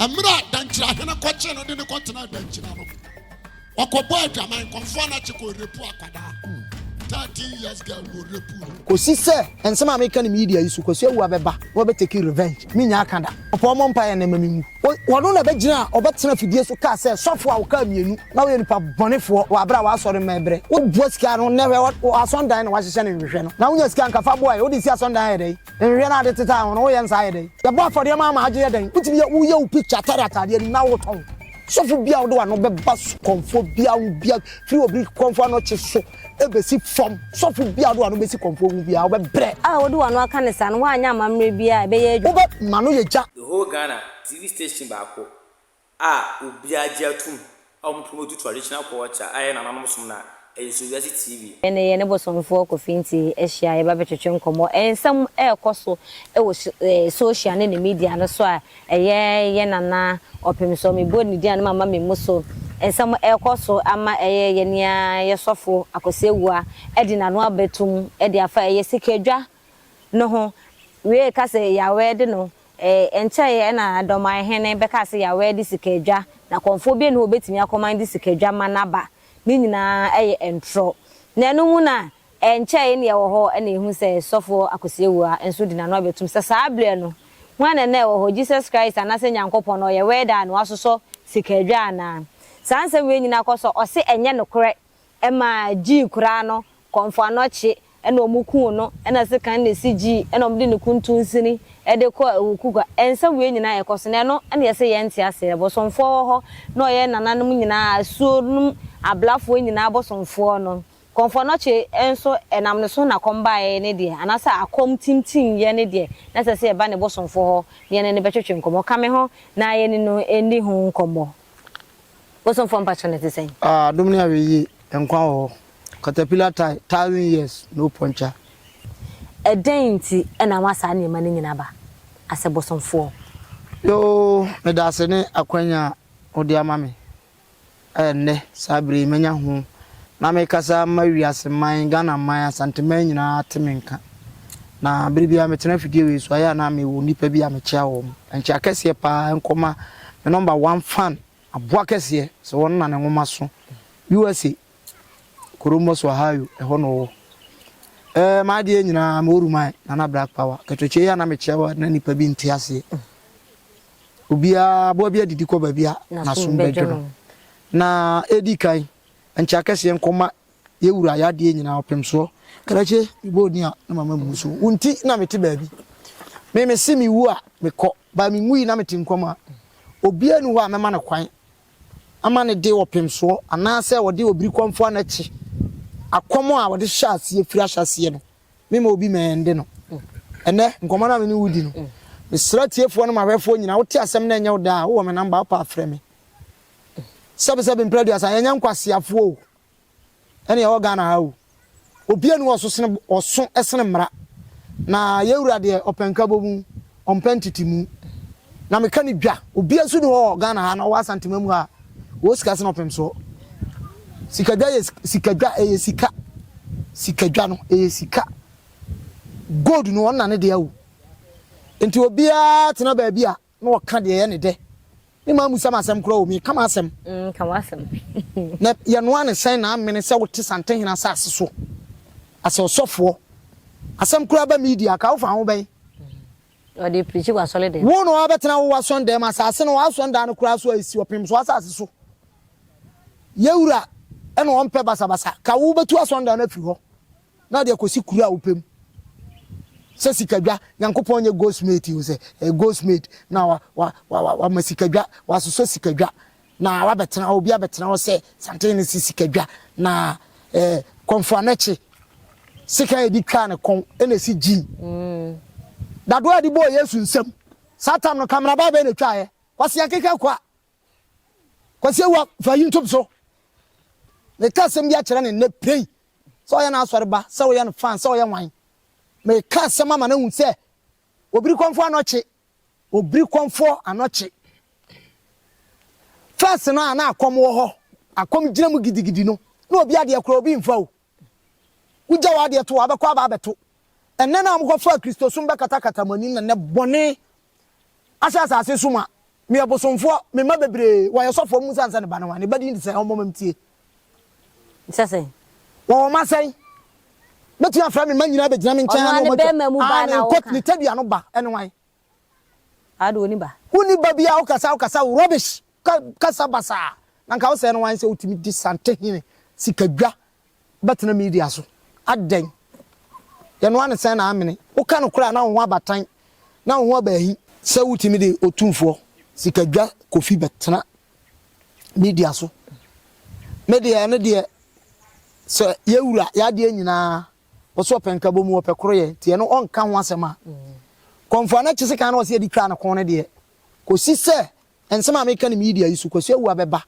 Mmerɛ a Dankyirahene kɔkyee no de no kɔtenaa Dankyira no, ɔkɔbɔɔ adwaman, kɔmfoɔ no akye kɔrepu akwadaa, thirteen years girl na ɔrepu no. Kɔsi sɛ nsɛm a meka no media yi so, Kwasi awu a bɛba na wɔbɛtake revenge, mennya aka da. Ɔpɔɔ mmɔ mpaeɛ nnɛ mma menwu. Ɔno na bɛgyina a ɔbɛtena afidie so kaa sɛ sɔfoɔ a wokaa mmienu na woyɛ nipa bɔnefoɔ wɔ aberɛ a w'asɔre mma ɛberɛ. Wobua sika no nnɛ hwɛ w'asɔndan na w'ahyehyɛ no nhwehwɛ no na wonya sika nka fa boa yɛ wode si asɔndan ayɛ dɛn? Nhwɛ na ade te saa a, hɔn woyɛ nsa ayɛ dɛn? Yɛbɔ afɔreɛ ma ama agye yɛ dɛn? Wotumi yɛ woyɛ wo picture tare ataadeɛ anim na wotɔn. Sɔfo biara a ɔde w'ano bɛba so kɔmfoɔ biara ho bia firi obi kɔmfoɔ anɔkye so bɛsi fam. Sɔfo biara a ɔde w'ano bɛsi kɔmfoɔ ho biara wobɛbrɛ. A wode w'ano aka ne saa no, woanyɛ amammerɛ biara a ɛbɛyɛ adwuma. Wobɛma no yɛ gya. The whole Ghana TV station baako a obiara gye atom a wɔn pon odu traditional culture a ɛyɛ nananom som no a, ɛyɛ So Wiase TV. Yɛne yɛne bosomfoɔ Kofi Nti hyia, yɛba bɛtwetwe nkɔmmɔ nsɛm a ɛrekɔ so wɔ social ne ne media no so a ɛyɛ yɛn Nana Ɔpemsɔ, mebɔ ne din a ne mama memmu so, nsɛm a ɛrekɔ so ama ɛyɛ yɛn nua yɛn sɔfo Akwasi Awuah de n'ano abɛtom de afa ɛyɛ sikadwa no ho wiee ka se Yawɛɛde no ee nkyɛe ɛna Dɔman hene bɛkaa se Yawɛɛde sikaadwa na kɔmfoɔ biara nni hɔ obetumi akɔman de sikaadwa ma naba ne nyinaa ɛyɛ ntorɔ na ɛno mu na ɛnkyɛe na yɛwɔ hɔ ɛna ehu sɛ Sɔfoɔ Akwasiawua nso di nano abɛtum sɛ saa berɛ no hwan na na ɛwɔ hɔ Jesus Christ anase Nyankopɔn na ɔyɛ Wɛɛde a na wasosɔ sikaadwa anaa saa nsɛm wei nyinaa kɔ so ɔse ɛnyɛ nokorɛ Ɛma gyii koraa no kɔmfo anɔkye na ɔmo kuu no ɛna sekan na esi gyii ɛna ɔmo de ne kuntun sini ɛde kɔ awukugua ɛnsa wei nyinaa yɛ kɔ so na ɛno ɛna yɛse yɛn nte aseɛ bosomfoɔ wɔ hɔ na ɔyɛ nananom nyinaa asuo nom ablafoɔ nyinaa bosomfoɔ no kɔmfo anɔkye nso ɛnam ne so na kɔm baeɛ ne deɛ anaasɛ akɔm tintim yɛ ne deɛ na ɛsɛ sɛ yɛba ne bosomfoɔ hɔ na yɛne no bɛtwetwe nkɔmɔ ka me ho na yɛne no ndi ho nkɔmɔ. Wo somfoɔ mpakyɛ no te sɛn? Ah adom ne awɛyie nkwa wɔ hɔ caterpillar tie thousand years no puncture. Ɛdɛn nti na ama saa nneɛma no nyinaa aba asɛ bosomfoɔ? Yoo medase ne akwanya a wode ama me ɛ nnɛ saa bere yi manya ho na mekasa ma wiase man Ghana man Asanteman nyinaa te me nka. Na bere biara metena afidie wei so a, ɛyɛ a na mewɔ nnipa bi a mekyea wɔn. Ɛnkyɛ akɛseɛ paa nkɔma me number one fan aboa kɛseɛ sɛ wɔn na ne nwoma so USA Columbus Ohio ɛhɔ na ɔwɔ. Ɛɛ m'adeɛ nyinaa mewɔ ruman nana black power kɛtɔkyɛ yi a na mekyea wɔ na nnipa bi nte aseɛ. Obiara aboa bi adidi kɔ baabi a n'asom bɛdwo no. Na ɛdi kan ɛnkyɛ akɛseɛ nkɔma Yɛ wura y'adeɛ nyinaa ɔpem soɔ. Krakye me bɔ odin a na mama mmu so wo nti na mete baabi me mese me wu a me kɔ but me nwui na mete nkwa mu a obiara ni hɔ a mɛma no kwan ama ne de ɔpem soɔ anaasɛ ɔde obiri kɔmfoa no akyi akɔm a ɔde hyɛ aseɛ firi ahyɛ aseɛ no me ma obi ma ɛnde no ɛnɛ nkɔmɔ no a me ne wo di no mesra tiefoɔ no ma hwɛfoɔ nyina wote asɛm na ɛnyɛ wo daa wowɔ me namba wopɛ afrɛ me sɛbesɛbe mprɛ aduasa yɛnyɛ nkwaseafoɔ o ɛne ɛwɔ Ghana ha o. Obia ni hɔ ɔso sene ɔso sene mmara. Na yɛn wura deɛ ɔpɛ nkabomu, ɔmpɛ ntetemu. Na meka no dwa, obia nso ni hɔ wɔ Ghana ha na ɔwɔ Asantema mu ha a ɔwɔ sika sene ɔpem soɔ. Sikadwa yɛ sika dwa, ɛyɛ sika. Sikadwa no, ɛyɛ sika. Gold no, ɔnna ne deɛ o. Nti obia tena baabi a Na ɔka deɛ ɛyɛ ne dɛ. Me mma mmusa me asɛm koraa o, meka m'asɛm. Mm, ka w'asɛm. Na yɛnoa ne sɛn na amene sɛ wote Santehene asase so asɛ ɔsɔfoɔ? Asɛm koraa ba media ka, wofa ho bɛn? Ɔde preachi w'asɔre dɛm. Wo na wabɛtena wo w'asɔndan mu, asase no, w'asɔndan no koraa so a ɛsi ɔpem so asase so. Yɛn Wura na ɔmpɛ basabasa. Ka wobɛtu asɔndan no afiri hɔ. Na ɔde akosi kuro a wopɛ mu. Sɛ sikadwa, Nyankopɔn nyɛ goldsmith o, sɛ ɛyɛ goldsmith na wa, wa, wa, wa, wama sikadwa, wasosɔ sikadwa, na wabɛtena hɔ, obi abɛtena hɔ sɛ santen no si sikadwa, na ɛɛ, kɔnfoanɛkye, sekan a yɛde twaa ne kɔn, ɛna ɛsi gyin. Dadoɔ a yɛde bɔɔ Yesu nsam, saa tam no, kamerabaa bɛn na ɛtwaeɛ? Kwasiankehwɛ Akwaa, Kwasi Awua fa YouTube so meka asɛm bi akyerɛ no nnɛ prei sɛ ɔyɛ no asɔre ba sɛ woyɛ no fan sɛ ɔyɛ wan meka asɛm ama no ahu sɛ obiri kɔmfoɔ anɔkye obiri kɔmfoɔ anɔkye fɛs no a na akɔm wɔ hɔ akɔm gyina mu gidigidi no na obi adeɛ korɔ obi mfa o Wogya w'adeɛ to hɔ a, bɛkɔ aba abɛto. Ɛnnɛ no a mokɔfaa Kristosom bɛkatakata mo anim no, nnɛ bɔne ahyɛ asase so ma. Meyɛ bosomfoɔ, me mma bebree, wɔyɛ sɔfoɔ, mommisa me sɛ ne ba ne wan? Ne ba din de sɛn? Ɔmmɔ ma mentie. Sɛ sɛn? Wɔwɔ mma sɛn? Mɛtumi afrɛ me mma nyinaa abɛgyina me nkyɛn ha ne wɔn atwa? Ɔno ne bɛrima mu baa na ɔka. Aane, ne tadua no ba ne wan? Ade woni ba. Woni ba biaa wokasa wokasa wo rubbish ka kasa basaa na nka wosɛɛ no wan sɛ wotumi di santehene sika dwa bɛtena media so adɛn yɛnoa no sɛn na amene woka nokorɛ a na wo ho aba tan na wo ho aba ahi sɛ wotumi de otumfoɔ sika dwa kofi bɛtena media so medeɛ ɛno deɛ sɛ yɛwura yɛadeɛ nyinaa Ɔsɛ ɔpɛ nkabɔ mu, ɔpɛ koroyɛ, nti ɛno ɔnka ho asɛm a. Kɔmfoɔ no akyi sekan na ɔsɛ yɛde twaa ne kɔn no deɛ, kɔsi sɛ nsɛm a meka no media yi so, Kwasi Awuah bɛba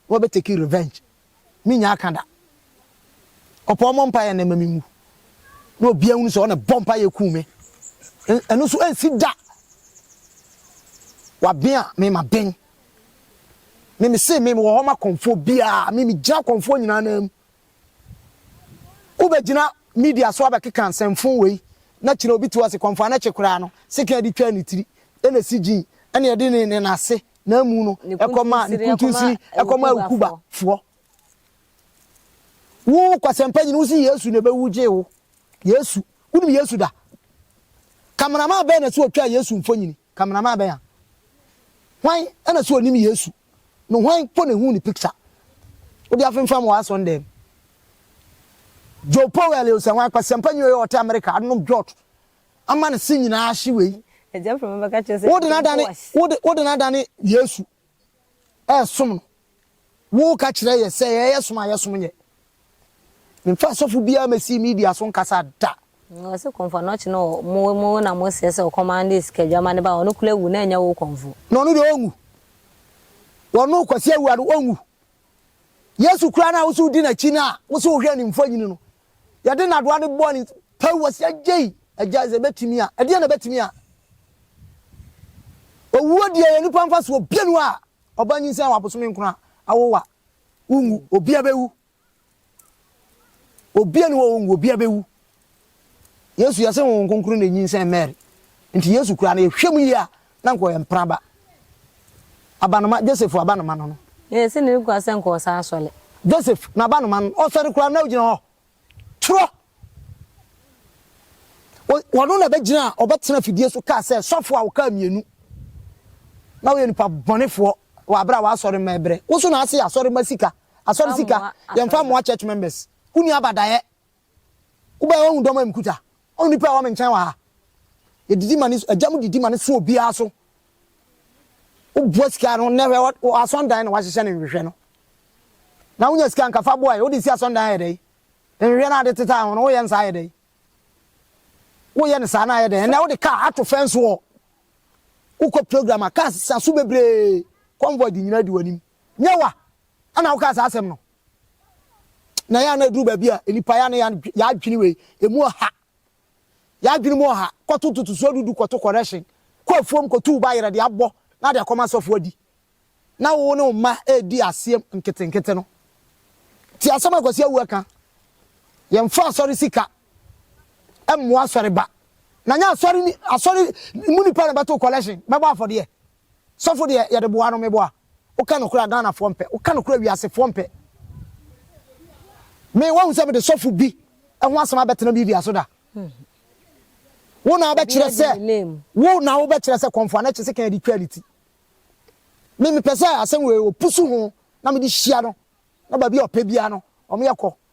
na wabɛ take revenge, mennya aka da. Ɔpɛ ɔmmɔ mpaeɛ nnɛ mma menwu, na obiara nhunu sɛ ɔna ɛbɔ mpaeɛ kuu me. Ɛno nso ɛnsi da. Waben a, me maben. Me mese me mewɔ hɔ ma kɔmfoɔ biara, me megyina kɔmfoɔ nyinaa nan mu. Wobɛgyina media so abɛkeka nsɛmfoo wei na kyerɛ obi te hɔ a se kɔmfoa no kye koraa no sekan de twaa ne tiri na esi gyii ɛna ɛde ne ne nase na amu no ɛkɔ maa ne kuntunsini ɛkɔ maa awukuba foɔ. Wo kwasɛmpa nyini wo se Yesu na ɛbɛwu gyee wo. Yesu. Wonim Yesu da? Kameraman bɛn na ɛse ɔtwaa Yesu mfonyini? Cameraman bɛn a? Hwan na so onim Yesu no hwan mpo na ehuu ne picture? Wode afemfam w'asɔndɛm. Joe Powell yɛ osianhwan kwasiampa nyi ɔyɛ ɔte America anom dwot ama ne se nyinaa ahye wei Wode no adane wode no adane Yesu ɛresom no, woka kyerɛ yɛ sɛ ɛyɛ som a yɛsom yɛ. Memfa asɔfo biara mɛsi media so nkasa da. Na ɔse kɔmfo na ɔkye no ɔ mo mo na mo srɛ sɛ ɔkɔma ne sikadwama ne ba ɔno koro awu na ɛnyɛ wo kɔmfo. Na ɔno deɛ ɔnwu ɔno Kwasi Awuah no ɔnwu Yesu koraa no a wose wodi nakyi no a wose wohwɛ ne mfoyini no yɛde nadoa no bɔ ne Paul wɔsi agyei agya sɛ ebetumi a ɛdeɛn na ebetumi a owuo deɛ yɛ nipa nfa so obie no a ɔba nyinsɛn wɔ abosome nkono a awo wa wonwu obi abewu obie no wɔ wonwu obi abewu yesu yɛsɛ wɔn nkonkoro na nyinsɛn mary nti yesu kura no yɛhwɛ mu yie a na nkɔ yɛ mpraba abanoma joseph abanoma no no yɛsɛ ne kura sɛ nkɔ ɔsa asɔle joseph na abanoma no ɔsɔre kura na ogyina hɔ Twerɛ. Ɔno na ɛbɛgyina a ɔbɛtena afidie so kaa sɛ, Sɔfoɔ a wokaa mmienu na woyɛ nipa bɔnefoɔ wɔ aberɛ a w'asɔre mma ɛbrɛ. Wo nso na ase yɛ asɔre mma sika, asɔre sika, yɛmfa mmoa church members. Wonni abadaeɛ. Wobaeɛ woahu dɔm a mekuta? O nnipa a ɛwɔ me nkyɛn wɔ ha, yɛdidi ma ne so, agya mu didi ma ne so obiara so. Wobua sika no, nnɛ hwɛ, wɔ, wɔ asɔndan na wahyehyɛ ne nhwehwɛ no. Na wonya sika nka fa boae, wode si asɔndan ayɛ dɛn? Nhwehwɛ no a de tetaa ho no, woyɛ no saa ayɛ dɛn? Woyɛ no saa na ayɛ dɛn? Ɛnnɛ wode kaa ato fɛn so hɔ. Wokɔ program a, kaa sa so bebree, convoy de nyinaa di w'anim. Nyɛ wa! Ɛna wokaa saa asɛm no. Na ɛyɛ a na ɛduru baabi a nnipa yɛ a na yɛadwene wei, ɛmu ɔha. Yɛadwene mu ɔha, kɔto ntotosoɔ dudu, kɔto correction, kɔ afuom kɔtu wo ba yerɛ de abɔ na de akɔma asɔfo adi. Na wo ne wo mma redi aseɛ nketenkete no. Nti asɛm a Kwasi Awuah ka, yɛmfa asɔre sika mmoa asɔre ba. Na nyɛ asɔre mu nnipa na ɛbɛto collection bɛbɔ afɔdeɛ. Sɔfo deɛ yɛde boa no meboa. Woka nokorɛ a Ghana foɔ mpɛ woka nokorɛ a wiase foɔ mpɛ me wahu sɛ mede sɔfo bi ho asɛm abɛtena bibia so da wo na wobɛkyerɛ sɛ wo na wobɛkyerɛ sɛ kɔnfoa no kye se kan de twaa ne ti me mepɛ sɛ asɛm wei wɔpusu ho na mede hyia no na baabi a ɔpɛ biara no ɔmo yɛ kɔ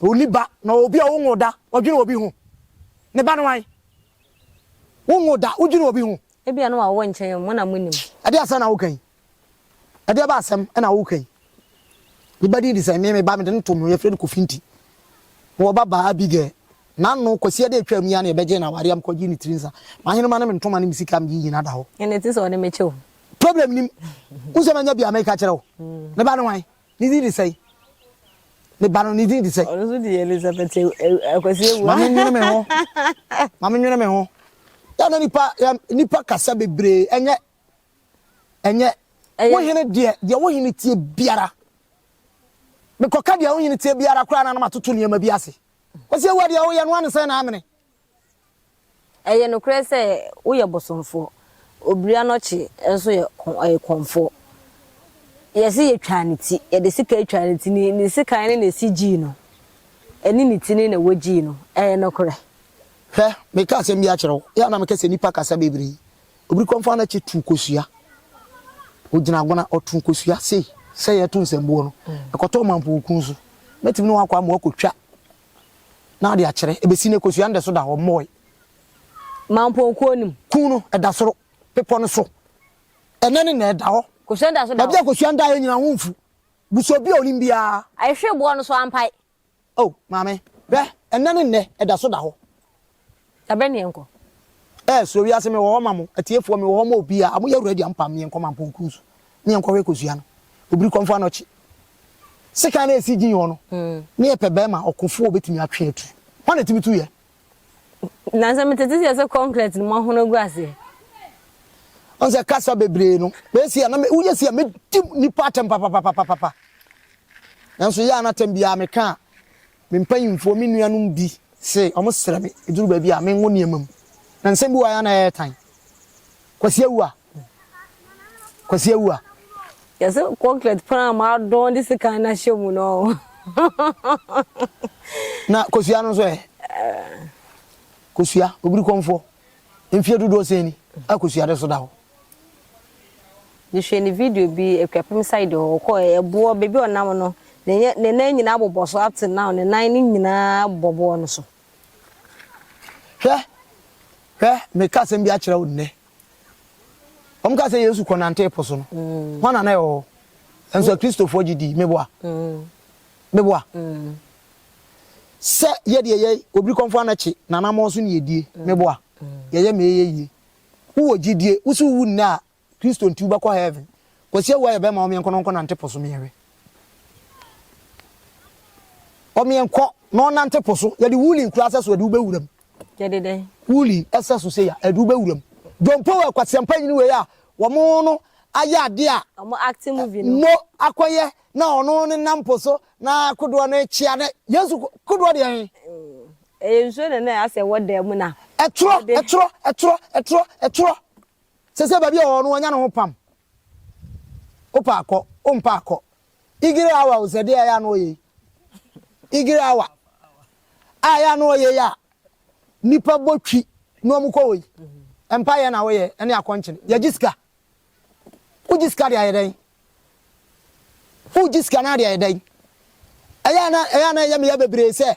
Onni ba, na obi a wonwoo da, ɔdwene obi ho. Ne ba ne wan? Wonwoo da, wodwene obi ho. Ebia na wawɔ nkyɛn o, mo na monim. Ɛdeɛn asɛm na woka yi? Ɛdeɛn ba asɛm na woka yi? Ne ba din de sɛn? Me, me ba, mede no too me ho, yɛfrɛ no Kofi nti. Mewɔ babaa, Abigail. N'ano, Kwasiada a ɛtwaam yi ara na yɛbɛgyee no awareɛ a mekɔgyee ne tiri nsa. M'ahenemma ne me ntoma ne me sika a mede yi nyinaa da hɔ. Ɛnna ɛte sɛ ɔde me kyɛ o. Problem nnim. Wohu sɛ manya bi a meka kyerɛ wo? Ne ba ne wan? Ne din de sɛn? Me ba no, ne din de sɛn? Ɔno nso de yɛ Elizabeth eh, eh, Akwasi Awuah. Ma menwene me ho. Ma menwene me ho. Yɛ na nipa yɛ nipa kasa bebree ɛnyɛ ɛnyɛ wo hene deɛ deɛ wo hene tie biara. Mekɔka deɛ wo hene tie biara koraa na na matoto nneɛma bi ase. Kwasi Awuah deɛ woyɛ no ano sɛn na amene. Ɛyɛ nokorɛ sɛ woyɛ bosomfoɔ, obiri anɔkye nso yɛ ɔyɛ kɔmfoɔ. Yɛse yɛtwaa ne ti, yɛde sekan twaa ne ti, ne sekan no na ɛsi gyii no, ɛne ne ti no na wɔgyii no, ɛyɛ nokorɛ. Hwɛ, mereka asɛm bi akyerɛ wo, yɛ a na meka sɛ nnipa kasa bebree, obiri kɔmfoɔ anɔkye tuu kosua, ɔgyina agona, ɔtoo kosua sei, sɛdeɛ yɛto nsɛmbuo no, ɛkɔtɔ ɔmampɔn kun so, mɛtumi ne wo akɔ ama woakɔtwa. na ade akyerɛ. Ɛbɛsi nnɛ, Kosua no da so da hɔ, wɔmmɔɔe. Mampɔn kuo no mu. Kuo no, ɛda soro, bepɔ no so. Ɛnnɛ ne nnɛ, ɛda hɔ. Kosua no da so da hɔ. Baabi a Kosua no daeɛ nyinaa ho mfu. Busa obi a ɔnim biara. Ayehwee boɔ no so ampae. Oh, maame, hwɛ, ɛnnɛ ne nnɛ, ɛda so da hɔ. Ɛbɛ ne yɛnkɔ. Ɛɛ suro wiase mewɔ hɔ ma mo atiefoɔ mewɔ hɔ ma obiaa mo yɛ ready a mo pam me yɛnkɔ mampɔn kuru so ne yɛnkɔ hwɛ kosua no obiri kɔmfo anɔkye sekan na esi gyin hɔ no ne yɛ pɛ bɛɛma ɔkofoɔ obetumi atwe atu hwan na etumi tu yɛ Nansa me tete sɛ sɛ concrete no mo hono gu aseɛ. Ɔn sɛ kasa bebree no bɛyɛ si a na me woyɛ si a me di nipa atɛm papapapapapa nanso yɛ a na atɛm biara meka a Me mpanyimfoɔ, me nuanom bi se wɔsrɛ me ɛduru baabi a menwo nneɛma mu. Na nsɛm bi wɔ ha a na ɛyɛ tan. Kwasi awu a? Kwasi awu a? Yɛse kɔnkret pran a moadɔn de sekan no ahyɛ mu no ɔ? Na kosua no nso ɛ? Kosua, obirikɔmfoɔ, mfeɛ dodoɔ sɛn ni a kosua de so da hɔ? Mehwɛɛ ne video bi Akuapem side hɔ, ɔkɔɔɛ, ɛboɔ, baabi a ɔnam no, ne yɛ, ne nan nyinaa bobɔ so up till now, ne nan no nyinaa bɔ boɔ no so. Hwɛ, hwɛ, meka asɛm bi akyerɛ wo nnɛ. Wɔkaa sɛ Yesu kɔnantee po so no, hwana na ɛwɔ hɔ? Nanso Akristofoɔ gye dii. Meboa? Meboa? Sɛ yɛ deɛ yɛ, obirikɔmfoɔ anakye, n'anammɔn so na yɛdie. Meboa? Yɛyɛ ma ɛyɛ yie. Wowɔ gyidie, wose wowu nnɛ a Kristo nti wobɛkɔ heaven. Kwasi Awuah yɛ bɛma ɔmeɛnkɔ na ɔnkɔ nante po so meɛhwɛ. Ɔmeɛnkɔ na ɔnante po so, yɛde wooling kura sɛso ɛde wobɛwuram. Yɛde dɛn? Wooling ɛsɛ so sei a ɛde wobɛwuram. Dompo wɔ ɛkwaseɛmpa nyini wei a wɔmo no ayɛ adeɛ a. Wɔmo acting movie no. Mo akɔyɛ na ɔno ne nam po so na kodoɔ no rekyea na Yesu kodoɔ deɛ he? Ɛyɛ nsuo na na asɛ wɔ dan mu na. Ɛtorɔ, ɛtorɔ, ɛtorɔ, ɛtorɔ, ɛtorɔ. Sɛsɛ baabi a ɔwɔ no wanya ne ho pam. Wopɛ a kɔ, wompɛ a kɔ. Igere awa o sɛ deɛ ɛyɛ a na ɔyɛ yi. Igere awa a ɛyɛ a na ɔyɛ yi a nnipa bɔ twi na wɔn kɔ wɔ yi. Mpa yɛ na woyɛ ɛne akɔnkyene. Yɛgye sika. Wogye sika de ayɛ dɛn? Wogye sika na de ayɛ dɛn? Ɛyɛ a na ɛyɛ a na ɛyɛ me ya bebree sɛ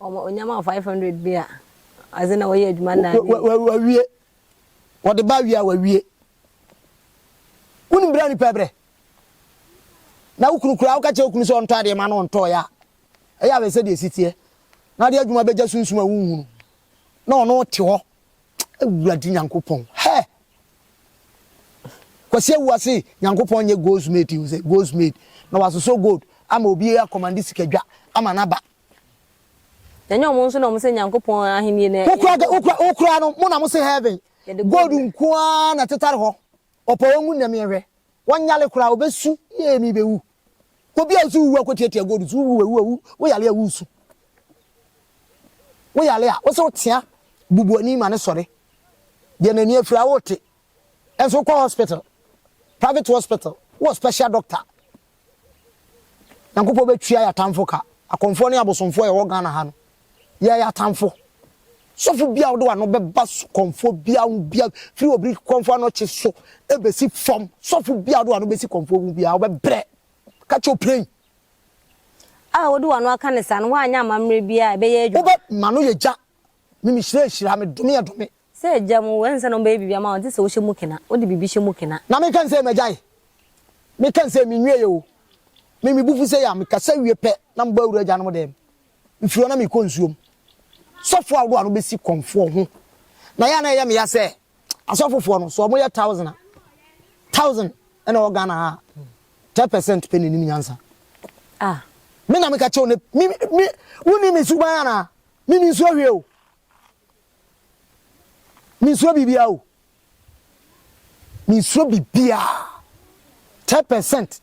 Wɔn ɔnya ma wo five hundred bi a, as in na wɔyɛ adwuma nna awie. Wa wa wawie. Wɔde ba wie a wawie. Wonim bere a nipa brɛ. Na wo kunu koraa woka kyerɛ wo kunu sɛ ɔntɔ adeɛ ma no ɔntɔɔyɛ a, ɛyɛ a bɛsɛ deɛ ɛsi teɛ. Na ade adwuma bɛgya sunsum a wonhunu. Na ɔno te hɔ. Awurade Nyankopɔn. Hɛ! Kwasi Awuwa se Nyankopɔn nyɛ goldsmith, he was a goldsmith. Na wasosɔ gold ama obi akɔmande sikadwa ama no aba. Na ɛnyɛ wɔn nso na wɔse Nyankopɔn ahennie no yɛ gold. Wo koraa no, mo na mose heaven gold nko ara na ɛtetare hɔ, ɔpɔ wɔn mu nnɛ meɛhwɛ, wɔnyale koraa, wɔbɛsu yee mebɛwu. Obi a ɔse wuwu akɔtiatia gold so, wuwu a wuwu a, woyale a woresu, woyale a wose wotea bubuani ma no sɔre, deɛ n'ani afiri a worete, ɛnso wokɔ hospital, private hospital, wowɔ special doctor, Nyankopɔn bɛtua yɛ atamfo ka. Akɔmfoɔ ne abosomfoɔ a yɛwɔ Ghana ha no, yɛyɛ atamfo. Sɔfo biara a wode w'ano bɛba kɔmfoɔ biara ho biara, firi obi kɔmfoɔ anɔkye so bɛsi fam, sɔfo biara a wode w'ano bɛsi kɔmfoɔ ho biara, wobɛbrɛ. Ka kyerɛ ɔpirayi. A wode w'ano aka no saa no, woanyɛ amammerɛ biara a ɛbɛyɛ adwuma. Wobɛ, M'ano yɛ gya, me, Mehyira yɛ hyira, me dome yɛ dome. Sɛ agya mu wo, ɛnsɛ na wɔbɛyɛ biribi ama wo gye sɛ wohyɛ mu kena, wode biribi hyɛ mu kena. Na menka nsɛ magyae, meka nsɛ menwieɛ o, me mebu fu sei a, mekasa wie pɛ na mebɔ awura agyanom dɛm, mfiri hɔ na mekɔ nsuom. Sɔfoɔ ahodoɔ a na wɔbɛsi kɔmfoɔ ho, na yɛ a na ɛyɛ me ya sɛ asɔfofoɔ no, sɛ wɔyɛ thousand a, thousand na ɛwɔ Ghana ha a, ten percent pɛ na ɛnim nyansa. Ah. Me na meka kyɛw ne, me, me, wonni me suban anaa? Me mensuro hwee o. Mensuro biribiara o. Mensuro biribiara. Ten percent.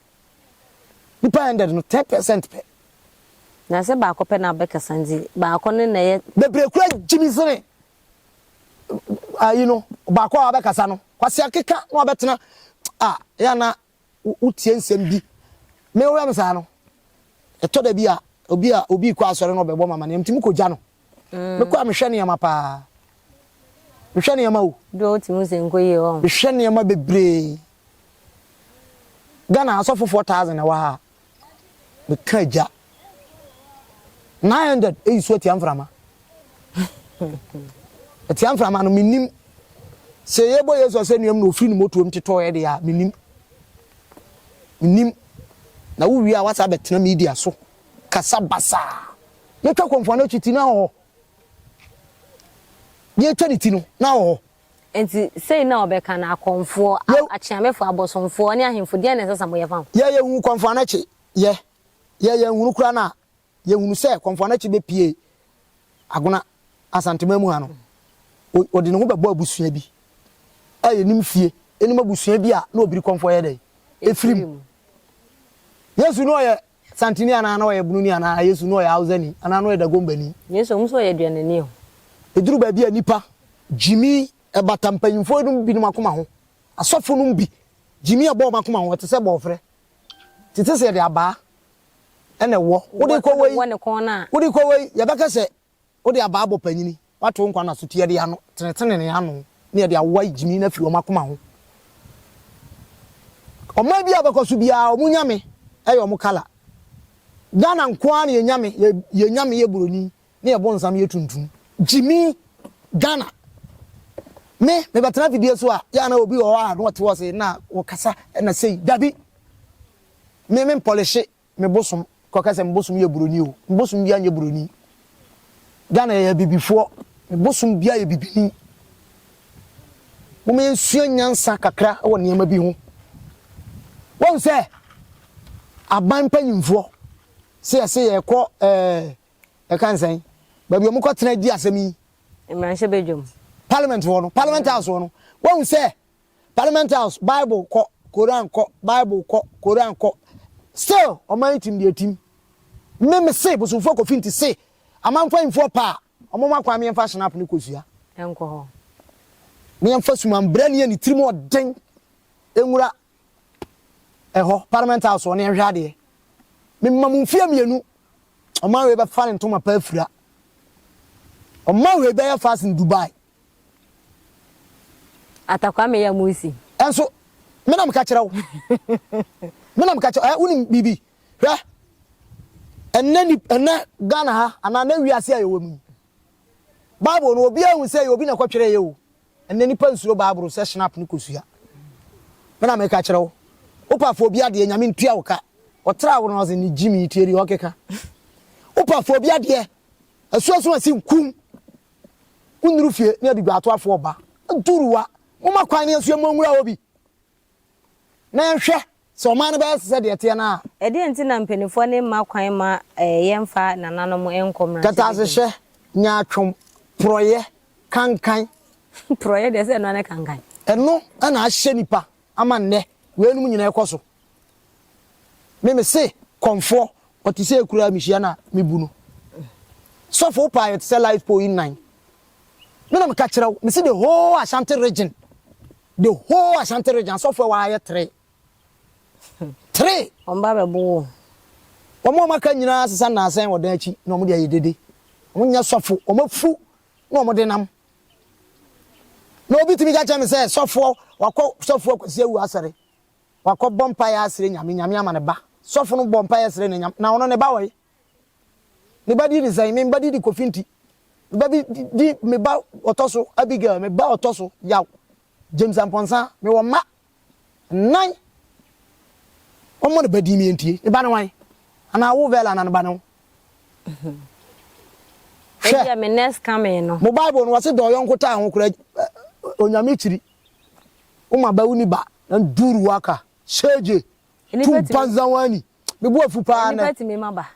Nipa hundred no, ten percent pɛ. Na sɛ baako pɛ na ɔbɛkasa nti, baako no na ɛyɛ. Bebree koraa gye me sene ayi no, baako a wabɛkasa no. Kwasi akeka na wabɛtena. Ah, ɛyɛ a na wotie nsɛm bi. Me wura no saa no, ɛtɔ da bi a, obi a obi kɔ asɔre na ɔbɛbɔ mama nneɛma, ntumi kɔgya no. Mekɔ a mehwɛ nneɛma paa. Mehwɛ nneɛma o. Dodo ɔte mu sɛ nkɔ yie hɔ. Mehwɛ nneɛma bebree. Ghana asɔfofoɔ thousand na ɛwɔ ha a. me ka agya nine hundred eyi so atia mframa atia mframa no menim sɛ yɛbɔ yesu asɛnnuam na ofiri ne motuom tetɔ yɛ de a menim menim na wowie a wasa bɛtena media so kasa basaa yɛtwa kɔmfoɔ no akyi ti no ahɔhɔ yɛtwa ne ti no na ahɔhɔ Enti sei na wɔbɛka no, Akɔmfoɔ, a, akyeamefoɔ, abosomfoɔ, ne ahemfo, deɛn na ɛsɛ sɛ moyɛ fa ho? Yɛ yɛhuu Kɔmfoanakye yɛ, yɛ yɛnhunu koraa no a, yɛhunu sɛ Kɔmfoanakye bɛpie Agona Asanteman mu ha no, ɔde ne ho bɛbɔ abusua bi a yɛnim fie, yɛnim abusua bi a na Obiri Kɔmfoɔ yɛ dɛn? Ɛfiri mu. Yesu no ɔyɛ. Santini anaa na ɔyɛ Bununi anaa Yesu na ɔyɛ Hausani anaa na ɔyɛ Dagombani. Yesu ɔhu sɛ ɔyɛ aduanani o. Ɛduru baabi a nnipa gyimi ɛbata mpanyimfoɔ nom binom akoma ho. Asɔfo nom bi gyimi ɛbɔ wɔn akoma ho. Ɛte sɛ bɔɔferɛ. Tete sɛ yɛde abaa ɛna ɛwɔ. Wode kɔ wei, wode kɔ wei, yɛbɛka sɛ Wode abaa bɔ panyini, woato wo nkwa nna so ti, ɛde ano, tenetene ne ano, ne ɛde awowa yi gyimi no afiri wɔn akoma ho. Ɔman bi a wobɛkɔ so biara, wɔn nyame yɛ wɔn kala. Ghana nko ara na yɛn nyame, yɛn nyame yɛ buroni, ne yɛn bonsam yɛ tuntum. Gyimi, Ghana. Me, mebɛtena afidie so a, yɛ a na obi wɔ hɔ a na ɔte hɔ se na ɔkasa na sei. Dabi! Me, mempɔlehye. Me bosom kɔ kɛ sɛ me bosom yɛ buroni o me bosom bia nyɛ buroni Ghana yɛyɛ abibifoɔ me bosom bia yɛ bibini Moma yɛnsua nyansa kakra wɔ nneɛma bi ho Wahu sɛ aban mpanyimfoɔ sɛ yɛse yɛkɔ ɛɛ yɛka ne sɛn baabi ɔmo kɔ tena di asɛm yi. Mmarahyɛbadwam. Parliament hɔ no Parliament House hɔ no Wahu sɛ Parliament house bible kɔ Koran kɔ bible kɔ Koran kɔ still ɔman yi tim deɛ tim me me se bosomfoɔ kɔ finti se amanfanyinfoɔ paa ɔmo ma kwan meɛnfa snap no kɔ sua ɛnkɔ hɔ meɛnfa suman brɛni a ne tirim ɔden ɛnwura ɛhɔ Parliament house ɔne ɛhwɛ adeɛ me ma mo mfie mmienu ɔman wei bɛfa ne ntoma paa afira ɔman wei bɛyɛ fast in Dubai Atakwame ya mu nsi. Ɛnso me na meka kyerɛ wo me na meka kyerɛ ɛ wonim biribi hwɛ ɛnɛ ni ɛnɛ Ghana ha anaa na wiase a yɛwɔ mu yi Bible no obi ahu sɛ yɛ obi na ɛkɔtwerɛ yɛ o ɛnɛ nipa nsuro Bible sɛ snap no kɔsua me na meka kyerɛ wo wopafo obi adeɛ nyame ntua wo ka ɔtra wo no ɔse ne gyimi tieri ɔkeka wopafo obi adeɛ asuasu asi nkum Wo nnuru fie ne abiguatoafoɔ ba nturuwa. Momma kwan ne asuo mma ɔnwura hɔ bi na yɛnhwɛ sɛ ɔman no bɛyɛ te sɛ deɛ ɛteɛ no ara. Ɛdeɛn nti na mpaninfoɔ no mma kwan mma yɛmfa nananom nkɔ mmarahyɛbedwam? Kɛtɛasehyɛ, nyaatwom, porɔeɛ, kankan. Porɔeɛ deɛ sɛ ɛno ara ne kankan. Ɛno na ahyɛ nnipa ama nnɛ weinom nyinaa ɛkɔ so. Me me se kɔmfoɔ ɔte sɛ kura me hyia na me bu no. Sɔfo wo paa yɛ te sɛ life pole nnan. Me na me ka kyerɛ wo me se the whole Ashanti region the whole Ashanti region asɔfo ɛwɔ ha yɛ three three. Wɔn ba bɛ bo wo. Wɔn a wɔn aka nyinaa sesa nnaansɛn wɔ dan akyi na wɔn de ayɛ dede. Wɔn nyɛ sɔfo wɔn afu na wɔn de nam. Na obi tumi ka kyerɛ me sɛ, sɔfoɔ, wakɔ sɔfoɔ Kwasi Awu asɔre. Wakɔ bɔ mpaeɛ asrɛ Nyame, Nyame ama ne ba. Sɔfo no bɔ mpaeɛ srɛ ne Nyame, na ɔno ne ba wɔe. Ne ba din ne sɛn? Me ba din de Kofi Nti. Me ba bi di, me ba ɔtɔ so Abigail, me ba ɔtɔ so Yaw, James Amponsah. Mewɔ mma Nan wɔmmɔ ne ba din me ntie. Ne ba ne wan? Anaa wo Vela na ne ba ne wo? Hwɛ. Ebia me next coming no. Mo Bible no wɔse dɔ yɔnko taa ho kora onyame kyiri. Wo ma ba wo ni ba na duru waka. Shege. Tu banza wani. Me bo afu paa nɛ. Nipa tumi ma ba.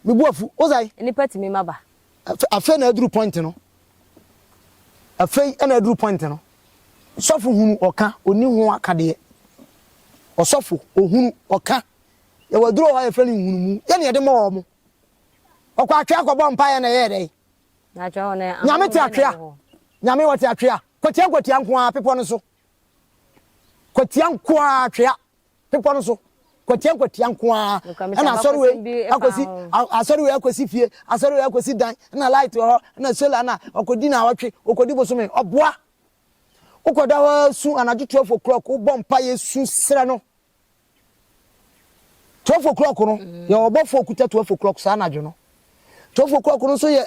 Me bo afu. Wo sɛn? Nnipa tumi ma ba. Afe, afei na aduru point no. Afei na aduru point no. Sɔfo hunu ɔka, onni ho akadeɛ. Ɔsɔfo, ohunu, ɔka. Yɛwɔ aduru hɔ a yɛfrɛ no nhunumu. Yɛ ne yɛde ma wɔn. Ɔkɔ atwea kɔbɔ mpaeɛ na ɛyɛɛ dɛn? Nyame te atwea. Nyame wɔte atwea. Kwatia kwatia nko ara, bepɔ no so. Kwatia nko ara, atwea. Bepɔ no so, kwatia nkwatia nko ara. Ɛna asɔre wei akɔsi asɔre wei akɔsi fie, asɔre wei akɔsi dan, ɛna light wɔ hɔ, ɛna solar na ɔkɔdi na awɔtwe, ɔkɔdi bosome, ɔboa. Wokɔda hɔ su anadwo twelve o'clock, wobɔ mpaeɛ su srɛ no. Twelve o'clock no, yɛ ɔbɔfoɔ kuta twelve o'clock saa anadwo no. Twelve o'clock no nso yɛ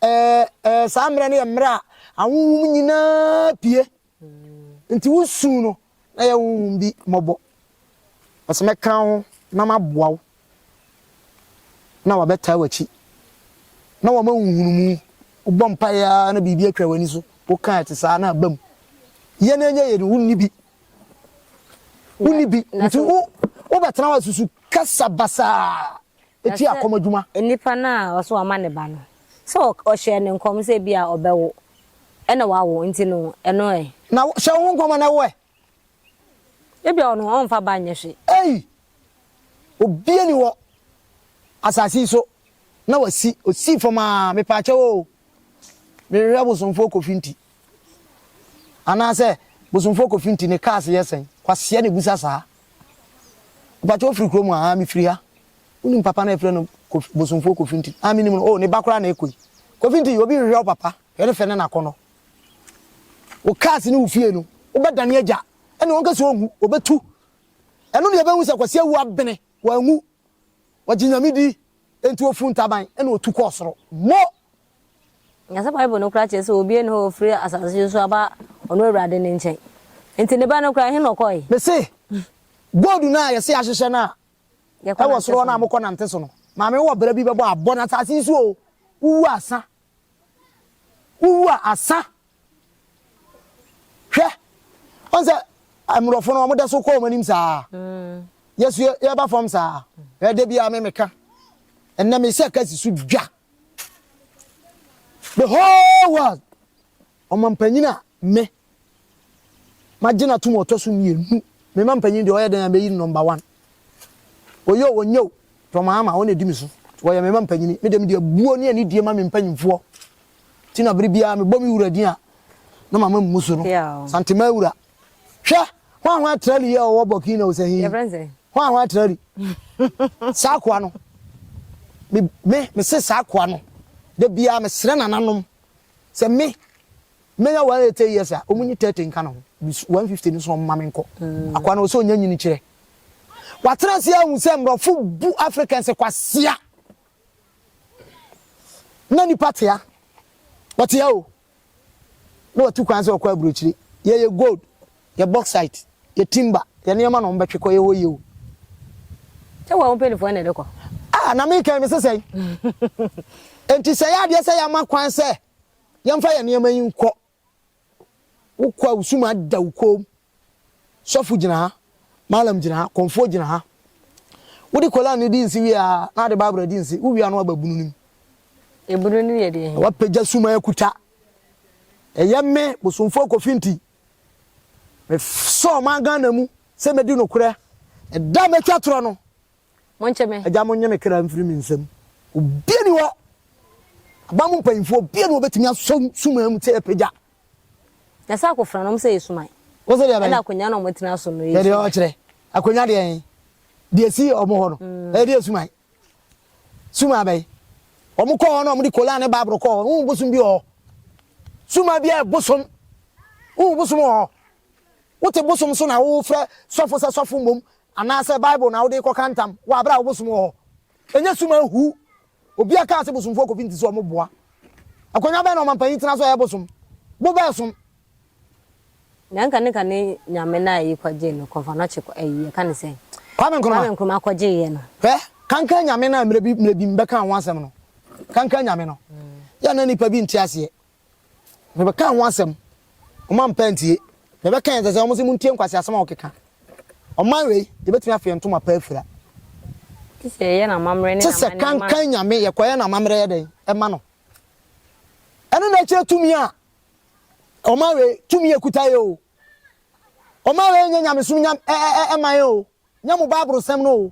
ɛɛ ɛɛ saa mmerɛ no yɛ mmerɛ a ahohom nyinaa pie. Nti wo su no na yɛ honhom bi mmɔbɔ. Ɔse mɛka wo ho na maboa wo na wabɛtaa w'akyi na wama wo nhunumu. Wobɔ mpaeɛ ara na biribi atwa w'ani so. Woka a ɛte saa na aba mu. Yɛ na ɛnyɛ yɛ no wonni bi. Wonni bi. Nti wo wobɛtena hɔ asusu kasa basaa. Na tia sɛ kɔm adwuma. nipa no a ɔse wama ne ba no, sɛ ɔhyɛɛ no nkɔm sɛ ebia ɔbɛwo ɛna wawo nti no, ɛno ɛ? Na wo, hyɛ wo ho nkɔm a na ɛwo ɛ? Ebia ɔno ɔmfa ba nyɛ hwe. Ei! Obia nni hɔ asase yi so na wasi, osii fam aa, mepaakyɛw oo, mehwehwɛ bosomfoɔ Kofi nti. Anaasɛ bosomfoɔ kɔ finti ne cars yɛ sɛn? Kwasea na ebusa saa. Mpakyɛ wo firi kurom a? Aa me firi ha. Wonim papa no a yɛfrɛ no Kofi, bosomfoɔ Kofi Nti? Aa me nim no, oh ne ba koraa na ɛkɔ yi. Kofi Nti obi nhwehwɛ wo papa, hwɛ ne fɛ ne n'akɔnɔ. Wo cars ne wo fie no, wo bɛ dane agya, ɛne wɔn kɛse ɔnwu, ɔbɛ tu. Ɛno ne ɛbɛhu sɛ Kwasi awu abene, wanwu. Wɔgye Nyame di, ɛnti wɔfuru ntaban, ɛne ɔtu kɔɔ soro. Mo! Na sɛ Bible no koraa kyerɛ sɛ obi nni hɔ a ofiri asase so aba ɔno Awurade no nkyɛn. Enti ne ba no koraa, ɛhe na ɔkɔe? Mese, gold no a yɛse yɛahyehyɛ no a ɛwɔ soro hɔ no a mokɔ nante so no, maame wɔ bra bi bɛbɔ abɔ no asase yi so o, wowu asa. Wowu a asa. Hwɛ, ɔn sɛ mmorɔfo no wɔn da so kɔ wɔn anim saa. Mm. Yɛsu yɛba fam saa. Ɛda bi a me meka. Ɛnna me sɛ kasi so dwa. The whole world ɔmampanyin a me magye no atom ɔtɔ so mmienu me mampanyin deɛ ɔyɛ dɛn a mɛyi no number one ɔyɛ o ɔnyɛ o tɔmaama ɔna ɛdi me so wɔyɛ me mampanyin me dɛm deɛ buo ne anidie ma me mpanyinfoɔ ti na bere biara mebɔ me wura din a na mama mmu so no santema awura Hwɛ, hwan hwan trali yɛ ɔwɔ Burkina o sɛ he? Yɛfrɛ no sɛ? Hwan hwan trali? Saa akoa no, me, me, me se saa akoa no, da biara mesrɛ nananom sɛ me, menya 180 years a, ɔmo nyi 30 nka ne ho, 150 no so ɔmo ma me nkɔ. Mm. Akoa no, ɔsɛ ɔnya nyini kyerɛ. Watena ase ahu sɛ mmorɔfo bu Africans kwasea. Na nipa tea. Ɔtea o. na watu kwan sɛ ɔkɔ aburokyire. Yɛyɛ gold, yɛ bauxite, yɛ timber, yɛ nneɛma na wɔbɛtwe kɔ, yɛwɔ yie o. Sɛ wɔn mpanimfoɔ na ɛde kɔ. Ah, na meka yi, mese sɛn? Enti sɛ ɛyɛ adeɛ sɛ yɛama kwan sɛ yɛmfa yɛn nneɛma yi nkɔ, wokɔ a wo sum ada wo kɔn mu. Sɔfo gyina ha, Mallam gyina ha, Kɔmfoɔ gyina ha. Wode Koran no di nse wie a, na wode Bible adi nse. Wowie a na woaba bunu no mu. Ebunu no yɛ deɛ he? Na woapagya suman akuta. Ɛyɛ me, Bosomfoɔ Kofi nti, mesɔ ɔman Ghana mu sɛ mɛdi nokorɛ. Ɛda a mɛtwa torɔ no, Monkye me. Agya, monnye me kra mfiri me nsam. Obia nni hɔ, aban mu mpanyimfoɔ, obia nni hɔ a obɛtumi asɔ suman mu sɛ yɛpagya Na sɛ akofena nom sɛ esuman. Wo se deɛ bɛn? Ɛna akonya na ɔmo tena so no yɛ esuman. Deɛ ɔkyerɛ. Akonya deɛ ɛn. Deɛ si ɔmo hɔ no. Ɛyɛ deɛ esuman. Suman bɛn? Ɔmo kɔ hɔ na ɔmo de kolan ne baaboro kɔ hɔ. Wohu bosom bi wɔ hɔ. Suman bi yɛ bosom. Wohu bosom wɔ hɔ. Wote bosom so na wo frɛ sɔfo sɛ sɔfo mmom anaasɛ bible na wode kɔ ka ntam wɔ abere a wo bosom wɔ hɔ. Ɛnyɛ suman huu. Obia kaa se bosomfoɔ kofi nti se ɔmo boa. Akwanya bɛn na ɔmanpanyin tena so a ɛyɛ bosom? Bo bɛɛ som. Nea nka ne ka ne nyame no a yi kɔ gyee no kɔmfɔ no kye ayi yɛka ne sɛn? Kwame Nkrumah. Kwame Nkrumah kɔ gyee yɛ no. Hwɛ, kankan nyame no a mmerɛ bi mmerɛ bi me bɛkaa ho asɛm no. Kankan nyame no. Yɛ na nnipa bi nte aseɛ. Mebɛkaa ho asɛm, ɔmo ampɛ antie. Mebɛkae sɛ sɛ ɔmo se montie nkwaseasɛm a ɔkeka. Ɔman wei, yɛbɛtumi afe yɛn ntoma pa afira. Te sɛ yɛyɛ no amammerɛ ne n'amanneɛ ma no. Te sɛ kankan nyame, yɛkɔyɛ no amammerɛ yɛ dɛn? Ɛma no. Ɛno na ɛkyerɛ tumi a ɔman wei, tumi a ɛkuta yɛ o. Ɔman wei nyɛ nyamesom nya, ɛ, ɛ, ɛ, ɛman o. Nyɛ mo Bible sɛm no o.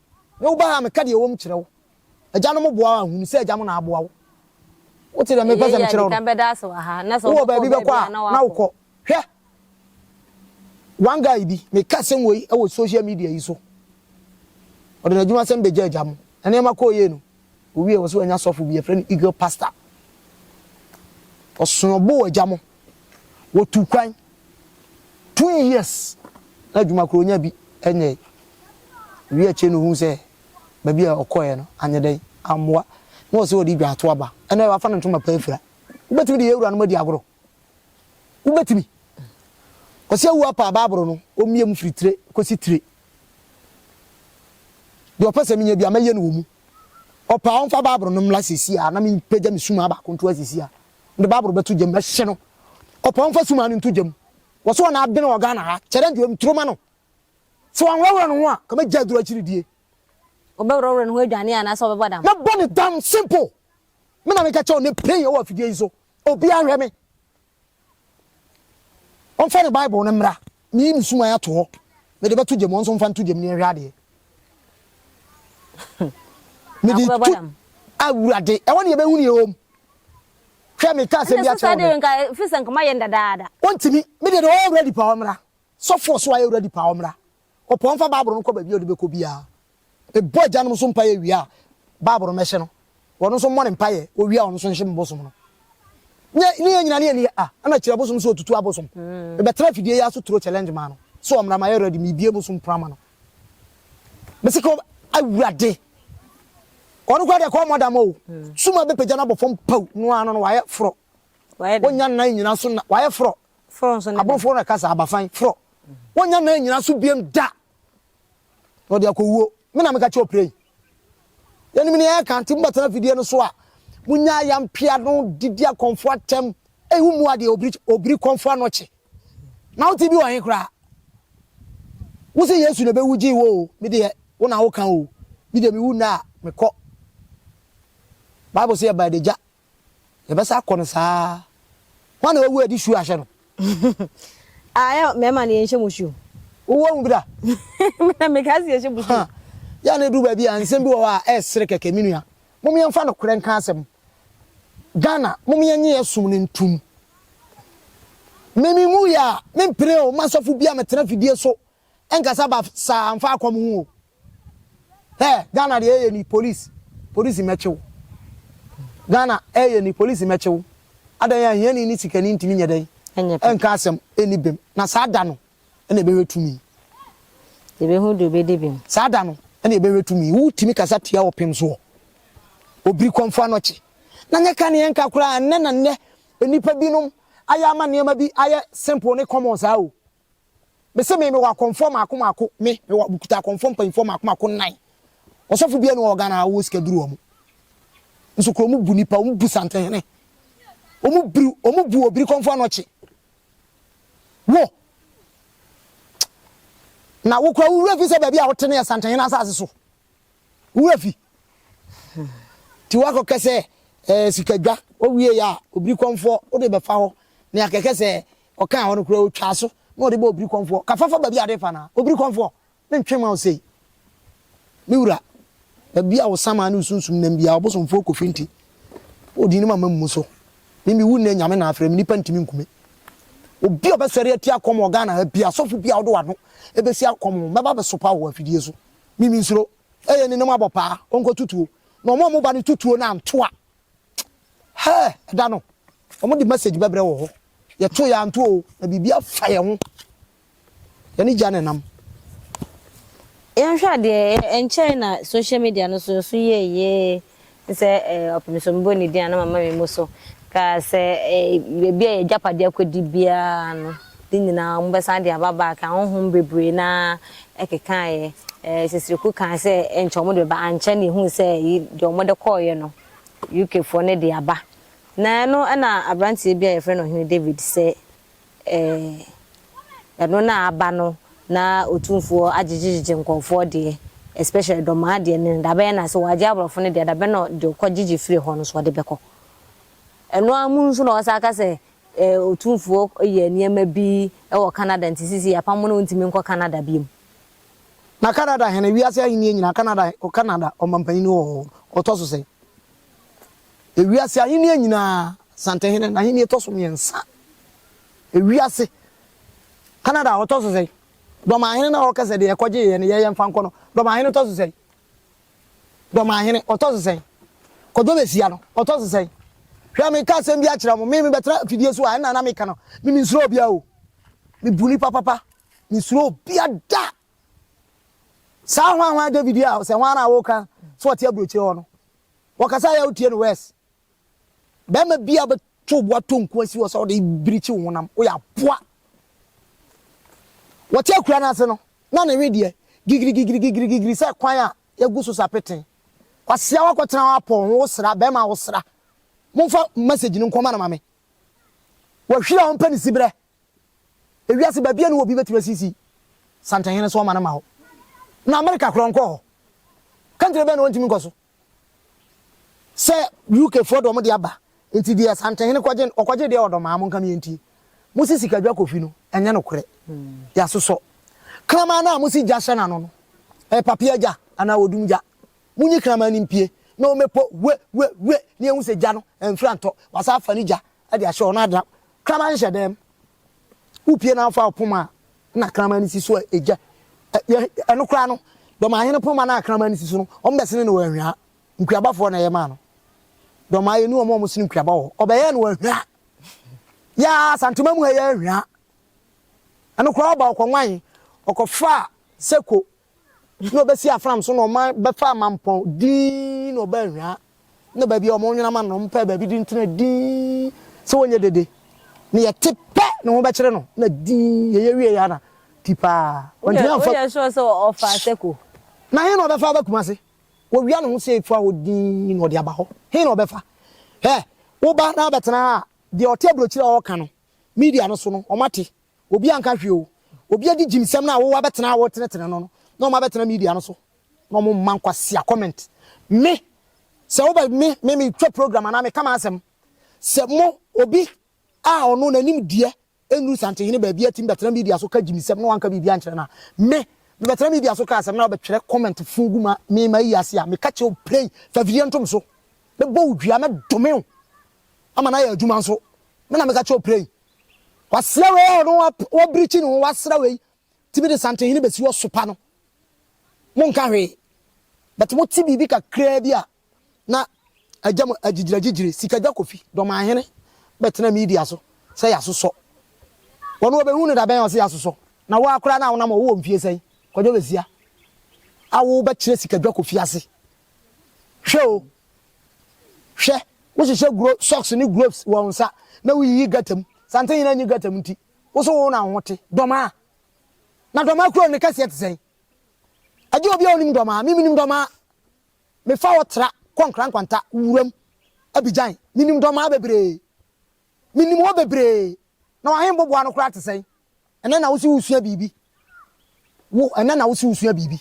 Me wo ba ha a meka deɛ ɛwom kyerɛ wo. Agya no mo boa wo a hunu sɛ agya mo na aboa wo. Wote deɛ mepɛ sɛ mekyerɛ wo no? Wowɔ baabi bɛkɔ a na wokɔ. Hwɛ! One guy bi, meka asɛm wei wɔ social media yi so. Ɔde n'adwumasɛm bɛgyaa agya mo. Nneɛma kɔɔ yie no, Owie a wɔse wanya sɔfo bi yɛfrɛ no Eagle Pastor. Ɔsoo ɔbo wɔ gya mo. Wɔtuu kwan. Two years na adwuma koro ɔnya bi nyɛe. Owie akyire no ohuu sɛ baabi a ɔkɔeɛ no anyɛ dɛn, ammoa. Na ɔse ɔde dwa ato aba. Ɛnɛ wafa ne ntoma pa afira. Wobɛtumi de yɛn awuranom adi agorɔ? Wobɛtumi. Kwasi Awuo apaa Bible no, ɔmmie mu firi tire kɔsi tire. Deɛ ɔpɛ sɛ menyɛ bia, mɛyɛ no wɔ mu. Ɔpaa ɔmfa Bible no mmla sɛsi a, na mepagya me sumaa baako nto asisi a, mede Bible bɛto gyam, mɛhye no. Ɔpaa ɔmfa sumaa no nto gyam. Wɔ sɛ ɔna abene wɔ Ghana ha, kyɛrɛ nti ɔnturo ma no. Sɛ wanworɔworɔ ne ho a, ka mɛgya aduro akyiridie. Ɔbɛworɔworɔ ne ho adwane anaasɛ ɔbɛbɔ dam? Mɛbɔ no dam, simple. Me na meka kyerɛ wo, ne pray wɔ afidie yi so. Obiara nhwɛ me. Ɔmfa ne Bible no mmra. Meyi me suman ato hɔ. Mede bɛto gya mu. Wo nso mfa nto gya mu na yɛnhwɛ adeɛ. Mede Akɔbɛbɔ tu dam. Awurade. Ɛhɔ ne yɛbɛhunu yɛn wom. Hwɛ, mekaa asɛm Ɛnna bi so akyerɛ saa wo deɛ nnɛ. nka ɛfiri sɛ nka moayɛ no dadaada. Wɔntumi. Me deɛ deɛ ɔyɛ ready paa ɔmmra. Sɔfoɔ so ayɛ ready paa ɔmmra. Ɔpɔn mfa Bible no kɔ baabi a ɔde bɛkɔ biara. Mebɔ agyanom nso mpaeɛ wie a, Bible no mɛhyɛ no. Wɔno nso mmɔ no mpaeɛ, wɔwie a wɔn nso nhyɛ me bosom no. Ne ne yɛn nyina ne yɛn ni a, ɛna kyerɛ bosom sɛ ɔtutu abosom. Mebɛtena afidie yi ara so turo challenge maa no sɛ ɔmmra mayɛ ready, mebie bosom pono ama no. Mese ka Awurade, ɔno koraa deɛ ka ɔmmɔ dam o, sum a ɛbɛpagya no abɔ fam pau no ara no no wayɛ forɔ. Wɔnya nnan nyina so na wayɛ forɔ. Forɔ nso ne dɛn? Aboforɔ na ɛka saa, abafan, forɔ. Wɔnnya nna nnyina so biom da, na ɔde akɔ wuo. Me na meka kyerɛ ɔpre yi. Yɛnim nea yɛka, nti mobɛtena afidie no so a, monya ayampe ano de di akɔmfoɔ atɛm. Ei, wommua deɛ obiri, obiri kɔmfoɔ ano kye. Na wote bi wɔ he koraa? Wose Yesu na ɛbɛwu gyee wo o, me deɛ, wo na woka o. Me deɛ mewu nnɛ a, mekɔ. Bible se yɛba adagya, Yɛbɛsa akɔ no saa ara. Hwan na wawu a yɛde shoe ahyɛ no? Ah, yɛ mmarima no yɛnhyɛ mo shoe. Wowɔ ahu bi da? Me na meka sɛ yɛhyɛ mo shoe. Yɛ a na ɛduru baabi a nsɛm bi wɔ hɔ a ɛresere kɛkɛ. Me nua, mom yɛmfa nokorɛ nka asɛm. Ghana, mom yɛnnye yɛn som no ntom. Me menwuiɛ a, mempene o, mma sɔfo biara mmɛtena afidie so nkasa basaa mfa akɔm ho o. Hɛ Ghana deɛ ɛyɛ ni police polisi mɛkye wo Ghana ɛyɛ ni polisi mɛkye wo Adɛn a hiani ne sikani ntumi nyɛ dɛn ɛnka asɛm ɛnni bem Na saa da no ɛna ɛbɛhwɛ tumi Yɛbɛhu deɛ ɔbɛdi bem Saa da no ɛna ɛbɛhwɛ tumi Wotumi kasa tia ɔpem soɔ Obiri kɔmfoɔ anɔkye na nyɛ ka ne ɛnka koraa Ɛnnɛ na nnɛ nnipa binom ayɛ ama nneɛma bi ayɛ simple ne common saa o Me se me, me wɔ akɔmfoɔ maako maako, me, me wɔ, me kuta akɔmfoɔ mpanyinfoɔ maako maako nnan. Ɔsɔfo bia ni wɔ Ghana a ɔwɔ sika duru wɔn. Nso kura wɔn bu nipa, wɔn bu santenhene. Wɔn biri, wɔn bu obiri kɔmfoɔ anɔkye. Wo, na wo kura wo wura fi sɛ baabi a wote no yɛ santenhene asase so. Wo wura fi. Ti wakɔ kɛsɛ, eh, sikadwa, owie ya, obiri kɔmfoɔ, wode bɛfa hɔ, ne akɛkɛ sɛ, Ɔkaa hɔ no koraa ɔtwaa so na ɔde bɔɔ Obirikɔmfoɔ, Ka fa fa baabi a wode refa no ara, Obirikɔmfoɔ, mentwe mma wo sei. Me wura, baabi a wo samaa ne wo sunsum nam biara, ɔbosomfoɔ kɔfiri nti, wodii ne mama mmu so. Me mewu nnɛ, Nyame na afrɛ me, nnipa ntumi nku me. Obi a ɔbɛsɔre atia kɔm wɔ Ghana ha biara, sɔfo biara wode w'ano bɛsi akɔm ho, mɛba abɛsopa wo wɔ afidie so. Me mensuro. Ɛyɛ ne ne mu abɔ paa, ɔnkɔto tuo. Na wɔn a wɔba no to tuo no anto a, Hɛɛ! Ɛda no, wɔde message bɛbrɛ wɔ hɔ. Yɛto yɛanto o, na biribi afa yɛn ho. Yɛne gya na ɛnam. Yɛnhwɛ adeɛ, ɛnkyɛe na social media no so nso yɛɛ yie te sɛ ɔpem so mebɔ ne din a na mama me mu so. Ka sɛ baabi a yɛagyapadeɛ akɔdi biara no. Ne nyinaa wɔn bɛsan de aba back ahonhom bebree no ara ɛkekaeɛ ɛɛ Sesreku kae sɛ nkyɛ wɔn de bɛba ankyɛ na yɛhuu sɛ yi deɛ wɔn de kɔeɛ no UK foɔ no de aba na ɛno na abranteɛ bi a yɛfrɛ no Ɔhene David sɛ ɛɛ ɛno na aba no na Otumfoɔ agyegyegyegye nkɔɔfoɔ deɛ especially Dɔmaa deɛ no dabɛn na sɛ wɔagye aborɔfo no deɛ dabɛn na deɛ ɔkɔ gyegye firi hɔ no so ɔde bɛkɔ ɛno ara mu nso na ɔsan ka sɛ Otumfoɔ yɛɛ nneɛma bi wɔ Canada nti seesei yɛapam no na ɔntumi nkɔ Canada bio. Na Canada hene, wiase ahennie nyinaa, Canada, Canada ɔmampanin wɔ hɔ, ɔtɔ so sɛn? Ewiase ahennie nyinaa, Santehene n'ahennie tɔ so mmiɛnsa. Ewiase, Canada ɔtɔ so sɛn? Dɔmahene no a ɔka sɛ deɛ ɛkɔgyeeɛ no yɛyɛ mfa nkɔ no, Dɔmahene tɔ so sɛn? Dɔmahene, ɔtɔ so sɛn? Kwadwo Bɛsia no, ɔtɔ so sɛn? Hwɛ, mereka asɛm bi akyerɛ mo, me, mebɛtra afidie so a, ɛnna na meka no, me, mensuro obiara o. Mebu nnipa papa, mensuro obiara da. Saa hwanhwan David yi a, sɛ hwan ara a woreka sɛ ɔte aburokyire hɔ no, wɔkasa a ɛyɛ a wotie no worse, Barima biara bɛto wo bo atɔ nko asi hɔ sɛ wode birikyi wo honam. Woyɛ aboa. Wɔte akura no ase no, na ne we deɛ gigirigigirigigirigiri sɛ kwan a yɛagu so sa pete. Kwasea woakɔtena hɔ apɔw ho, wosra, barima a wosra. Momfa message no nkɔma no ma me. Wahwiri a ɔmpɛ ne siberɛ Ewiase baabiara nni hɔ a obi betumi asisi santenhene so ɔman ama hɔ. Na Amerika koraa ɔnkɔɔ hɔ. Country bɛn na ontumi nkɔ so? Sɛ UK foɔ deɛ wɔn de aba. Nti deɛ santenhene kɔgye no, ɔkɔgye deɛ wɔ dɔmaa monka me yɛntie. Mosi sikadwa kɔ fi no, ɛnyɛ nokorɛ. Yɛasosɔ. Kraman no a mosi gya hyɛ n'ano no, ɛyɛ papea gya anaa odum gya. Monyi kraman no mpue na wɔmmɛpɔ we we we na yɛnhu sɛ gya no, ɛmfiri antɔ. Wɔasan afa no gya de ahyɛ hɔ na ada kraman hyɛ dan mu. Wopue na wofa ɔpoma a, na kraman no si so a egya. Ɛno koraa no, Dɔmahene poma no a kraman no si so no, wɔbɛsene no wɔ anhwea. Nkuabafoɔ na ɛyɛ maa no. Dɔmaa yɛni wɔn a wɔsene nkuaba wɔ hɔ. Wɔbɛyɛɛ no wɔ anhwea. Yaa Santema mu ha yɛ anhwea. Ɛno koraa ɔba ɔkɔnwan, ɔkɔfaa sɛko na ɔbɛsi afram so na ɔman bɛfa amampɔn dinn na ɔbɛ anhwaa na baabi a ɔmo nwena ma no ɔmo pɛ baabi de ntena dinn sɛ wɔnyɛ dede na yɛte pɛ ne ho bɛkyere no na dinn yɛyɛ wie yɛ na ti paa wɔntumi anfa woyɛ sure sɛ ɔfa asɛko na he na ɔbɛfa aba kumase wɔwia ne ho sɛ efua hɔ dinn na ɔde aba hɔ he na ɔbɛfa hɛ woba na abɛtena ha a deɛ ɔte aburokyire a ɔka no media no so no ɔmo ate Obi anka hwee o, obi adi gyimsɛm no a wo wabɛtena a woretenetene no no na wɔn abɛtena media no so na wɔn mma nkwasia comment. Me, sɛ wobɛ me, me me twa program anaa me ka m'asɛm, sɛ mo obi a ɔno n'anim deɛ ɛnnuru Santehene baabi atumi bɛtena media so ka gyimsɛm na wanka biribi ankyerɛ no a, me, me bɛtena media so ka asɛm na wobɛtwerɛ comment fuu gu ma me ma ayi ase a, me ka kyerɛ wo play, fa video no tom so, mɛbɔ wo dua, mɛdome wo ama no ayɛ adwuma nso, me na meka kyerɛ wo play. Kwasea wei a ɔno wabirikyi ne ho wasra wei tumi de Santenhene bɛsi hɔ sopa no, monka hwee. But mote biribi kakraa bi a na agya mu agyigyiragyigyire. Sikadwa Kofi Dɔmanhene bɛtena media so sɛ yɛasosɔ. Ɔno ɔbɛhu no dabɛn a ɔse yɛasosɔ? Na wo ara koraa no a wonam hɔ, wowɔ mfie sɛn? Kwadwo Bɛsia a wobɛkyerɛ Sikadwa Kofi ase. Hwɛ o, Hwɛ, wohyehyɛ glo socks ne globes wɔ wo nsa na wuyiyi gutter mu. Santen nyinaa nyi gutter mu nti, wo so wo na wo ho te. Dɔmaa? Na dɔmaa kurow no ne kɛseɛ te sɛn? Agye obi a onim dɔmaa. Me menim dɔmaa. Mefa hɔ tra kɔ Nkrankwanta, wuram, Abidjan. Menim dɔmaa bebree. Minim wo bebree. Na w'ahembo boa no koraa te sɛn? Ɛnnɛ na wose wosua biribi. Wo, ɛnnɛ na wose wosua biribi.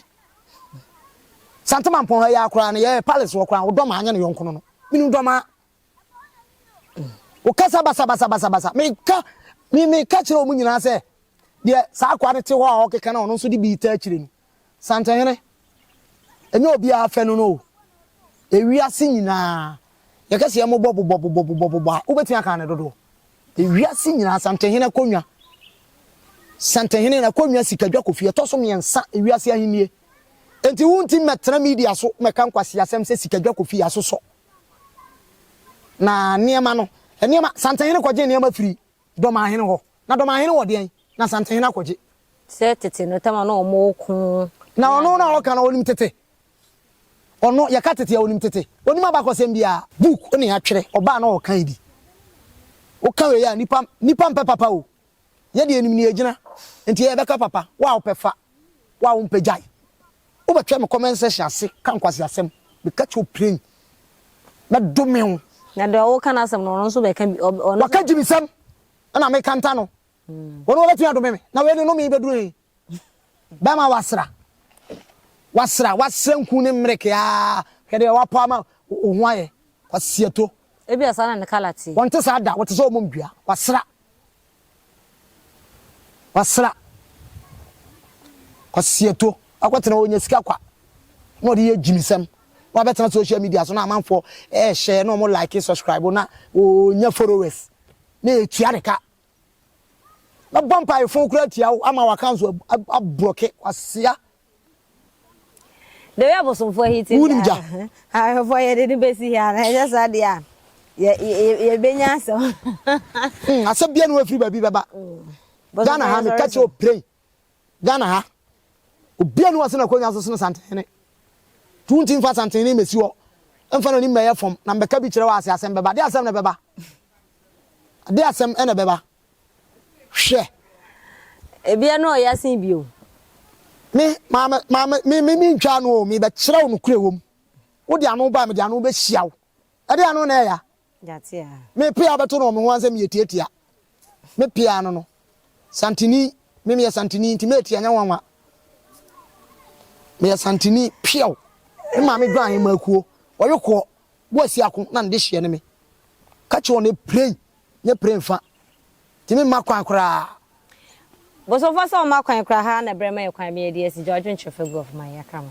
Santemanpɔn ha yi ara koraa no, yɛɛ Palace hɔ koraa no, wo dɔmaa nyɛ ne yɔnko no no. Minim dɔmaa. Wo kasa basabasa basabasa. Me ka, me, me ka kyerɛ wɔn nyinaa sɛ, deɛ saa akoa no te hɔ a ɔkeka na ɔno nso de bi ta akyire no, Santenhene, ɛnyɛ obiara fɛ no no o, ewiase nyinaa, yɛka sɛ yɛmobɔ bobɔ bobɔ bobɔ bobɔ a, wobɛtumi aka ne dodoɔ? Ewiase nyinaa, Santenhene akonnwa, Santenhene no akonnwa sikadwa kɔfie, ɛtɔ so mmiɛnsa ewiase ahennie. Enti wonti mmɛtena media so mmɛka nkwaseasɛm sɛ sikadwa kɔfie, asosɔ. Na nneɛma no, nneɛma, Santenhene kɔgye nneɛma firii. Dɔmahene hɔ. Na Dɔmahene wɔ deɛn? Na Asantehene akɔgye. Sɛ tete no tam a na wɔko ne Na ɔno no a adeɛ. wɔka no ɔnim tete. Ɔno, yɛka tete a, ɔnim tete. Ɔnim abakɔsɛm biara. Book ne atwerɛ, ɔbaa na ɔɔkan bi. Woka wei a, nnipa, nnipa mpɛ papa o. Yɛdeɛ yɛnim nea yɛgyina. Nti yɛbɛka papa. Wo a wopɛ fa, wo a wompɛ gyae. Wo bɛ twɛ me comment section ase ka nkwasi asɛm me ka kyerɛ wo plain mɛ dome wo. Na deɛ wo ka no asɛm no ɔno nso bɛ ka bi ɔno. Wa ka gyimi sɛm ɛna me ka nta no wɔn wɔbɛ tumi adome me na wei ne nome bɛ duro yi bɛma wa sra wa sra wa sra nku ne mmerɛ kɛ aa hwɛ deɛ wa pɔ ama wo ho ayɛ kwa siato. Ebi asaa na ne kala tie. Wɔn te saa da wɔte sɛ wɔn mom dua wa sra. Wasra. Kwasi Ato akɔtena hɔ, ɔnya sika kwa na ɔde yɛ gyimisɛm na wabɛtena social media so na amanfoɔ ɛɛhyɛ na ɔmo like subscribe na ɔnya followers na ɛtua ne ka. Mɛbɔ mpaefo koraa atia wo ama w'accounts abrɔke, Kwasea. Deɛ abosomfoɔ yi te Wonim gya? Ahwɛfoɔ yɛde no bɛsi hɛ anaa ɛnyɛ saa deɛ a yɛbɛnya asɛm. Hmm, asɛm bia na wafiri baabi bɛba. Ghana ha meka kyerɛ opiren. Ghana ha obia ne wasena akonnwa so sene santene. Tu nti mfa santene mmɛsi hɔ. Mfa no nim mɛyɛ fam na mbɛka bi kyerɛ wɔ ase asɛm bɛba. De asɛm na bɛba. De asɛm na bɛba. Hwɛ! Ebia na ɔya sen bi o. Me, Maame, Maame, me, me, mentwaa ano o, merebɛkyerɛ wo nokorɛ ɛwɔ mu. Wode ano ba a, mede ano bɛhyia wo. Ɛdeɛn ano na ɛya? Gyate a. Me pea wobɛto no wɔ me ho ansɛ meyɛ tiatia. Me pea ano no, Santini, me meyɛ Santini nti mɛyɛ tia nyɛ nwanwa. Meyɛ Santini, piaw. Me maame dwan mmakuo, ɔyokoɔ, Boa si ako na ne dehyeɛ ne me. Ka kyerɛ wɔn eprɛn nyɛ prɛn fa. Nti me mma kwan koraa. Bosomfoɔ sɛ ɔmma kwan koraa haa na brɛ ma yɛ kwan me yɛ di asi gya ɔdwen kyerɛ fagu of my yɛka mo.